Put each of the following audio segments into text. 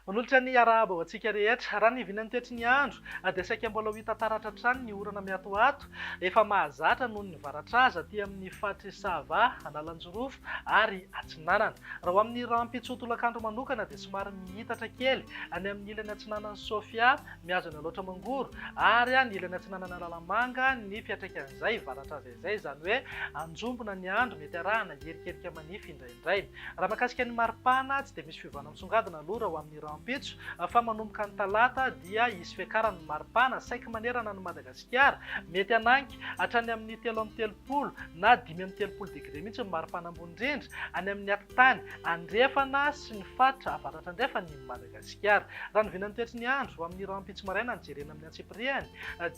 Manolotra ny arahaba ho antsika rehetra. Raha ny vinan'ny toetry ny andro dia saika mbola ho hita taratra hatrany ny orana miatoato efa mahazatra noho ny varatraza aty amin'ny faritr'i Sava, Analanjirofo ary Atsinanana. Raha ho amin'ny rahampitso ho tolakandro manokana dia somary mihitatra kely any amin'ny ilany atsinanan'i Sofia Mihazona loatra mangoro, ary an ilany atsinanana Analamanga ny fiatraikan'izay, varatra aza izay, izany hoe anjombona ny andro, mety arahana herikerika manify indraindray. Raha mahakasika ny maripana, tsy dia misy fiovana misongadina aloha raha ho amin'ny rahampitso, fa manomboka ny talata dia hisy fiakaran'ny maripana saiky manerana an'i Madagasikara, mety hanangy hatrany amin'ny telo amby telopolo na dimy amby telopolo degre mihitsy ny maripana ambony indrindra, any amin'ny. Tany andrefana sy ny faritra avaratrandrefan'i Madagasikara. Raha ny vinan'ny toetry ny andro, amin'ny rahampitso maraina no jerena amin'ny antsipiriany,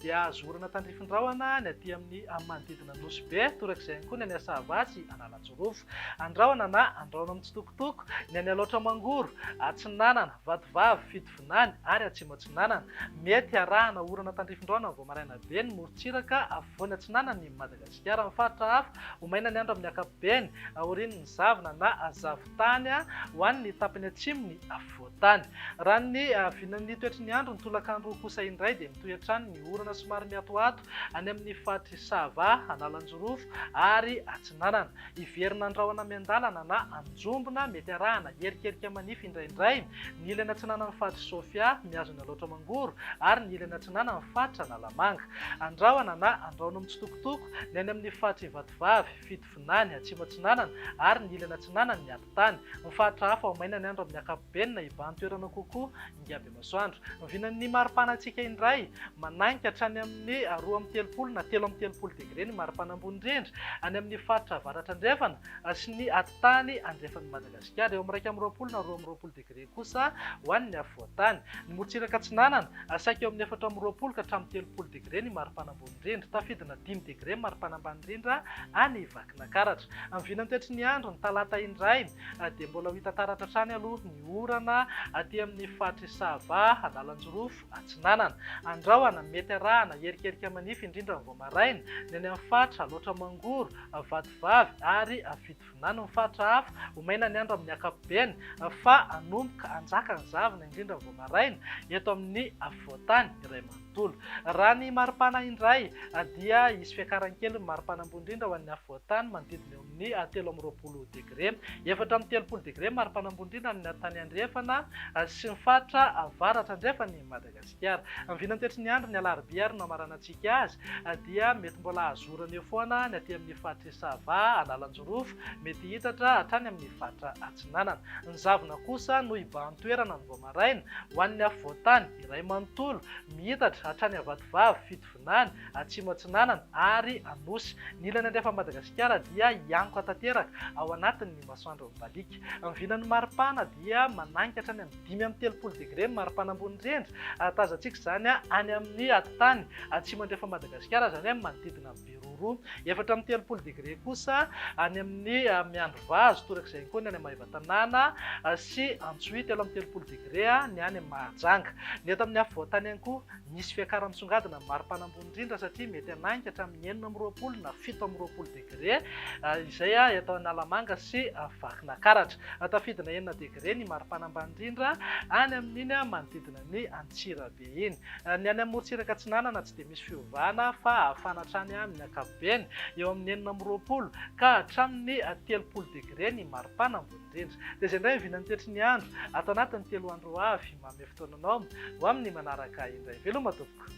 dia azo orana tandrifin-drahona ny aty amin'ny manodidina ny Nosy Be, torak'izay ihany koa ny any Asahava sy Analanjirofo. Andrahona na andrahona mitsitokotoko ny any Alaotra Mangoro, Atsinanana, Vatovavy, Fidivinany ary Atsimo Atsinanana. Mety harahana orana tandrifin-drahona vao maraina be ny morontsiraka afovoany atsinanan'i Madagasikara. Hiaro amin'ny faritra hafa ho maina ny andro amin'ny ankapobeny, aorian'ny zavona na zavon-tany ho an'ny tapany atsimon'ny afovoan-tany. Raha ny vinan'ny toetry ny andro ny tolakandro kosa indray dia mitohy hatrany ny orana somary miatoato any amin'ny faritr'i Sava, Analanjirofo ary Atsinanana. Hiverina an-drahona miandalana na an-jombona, mety arahana herikerika manify indraindray, ny ilany atsinanan'ny faritr'i Sofia, mihazo ny alaotra mangoro, ary ny ilany atsinanan'ny faritra Analamanga. Andrahona na andrahono mitsitokotoko, ny any amin'ny faritr'i Ivatovavy, Fitovinany, Atsimo Atsinanana, ary ny ilany atsinanan'ny Atitany. Ny faritra hafa ao mainany andro amin'ny ankapobeny na hibahan-toerana kokoa, Ingaby. Masoandro, vinan'ny maripana antsika indray. Mananika hatrany amin'ny roa amby telopolo na telo amby telopolo degre ny maripana ambony indrindra any amin'ny faritra avaratra andrefana sy ny atitany andrefan'i Madagasikara. Eo amin'ny iraika amby roapolo na roa amby roapolo degre kosa ho an'ny afovoantany. Ny morontsiraka atsinanana, saika eo amin'ny efatra amby roapolo ka hatramin'ny telopolo degre ny maripana ambony indrindra. Tafidina dimy degre maripana ambany indrindra any Vakinakaratra. Vinan'ny toetry ny andro ny talata indray dia mbola ho hita taratra hatrany aloha ny. ny orana aty amin'ny faritr'i Sava, Analanjirofo Atsinanana. Andrahona, mety arahana erikerika manify indrindra ny vao maraina, ny any amin'ny faritra Alaotra Mangoro, Vatovavy ary Fitovinany. Ny faritra hafa, ho maina ny andro amin'ny ankapobeny fa hanomboka hanjaka ny zavona indrindra ny vao maraina eto amin'ny afovoan-tany iray manontolo. Raha ny maripana indray dia hisy fiakaran-kely ny maripana ambony indrindra ho an'ny afovoan-tany manodidina eo ny telo amby roapolo degre. Efatra amby telopolo degre mari-panambondriana ny tany andrefana sy ny faritra avaratra andrefan'i Madagasikara. Ny vinan'ny toetry ny andro ny alarobia ary no hamaranantsika azy dia mety mbola hazorana eo foana ny aty amin'ny faritr'i Sava, Analanjirofo, mety hihitatra hatrany amin'ny faritra Atsinanana. Ny zavona kosa no hibahan-toerana ny vao maraina ho an'ny afovoan-tany, iray manontolo, mihitatra hatrany Avatovavy, fito. Andaniny, Atsimo Atsinanana ary Anosy. Ny ilany andrefan'i Madagasikara dia hiankoka tanteraka ao anatin'ny masoandro mibaliaka. Ny vinan'ny maripana dia manainga hatrany amin'ny dimy amby telopolo degre ny maripana ambony indrindra. Tazantsika izany any amin'ny tany atsimo andrefan'i Madagasikara, izany hoe manodidina an'i Beroroha. Efatra amby telopolo degre kosa any amin'ny Miandrivazo, toraka izay ihany koa ny any Maevatanàna sy Antsohihy. Telo amby telopolo degre ny any Mahajanga. Ny eto amin'ny afovoan-tany ihany koa. Misy fiakaran'ny misongadina ny maripana ambony indrindra satria mety hanainga hatramin'ny enina amby roapolo na fito amby roapolo degre izay eto Analamanga sy Vakinakaratra. Tafidina enina degre ny maripana ambany indrindra any amin'iny manodidina ny Antsirabe iny. Ny any Amorontsiraka Atsinanana tsy dia misy fiovana fa hafana hatrany amin'ny ankapobeny, eo amin'ny enina amby roapolo ka hatramin'ny telopolo degre ny maripana ambony. indrindra. Dia izay indray vinan'ny toetry ny andro ato anatin'ny telo andro ho avy. Manome fotoana anao ho amin'ny manaraka indray. Veloma tompoko.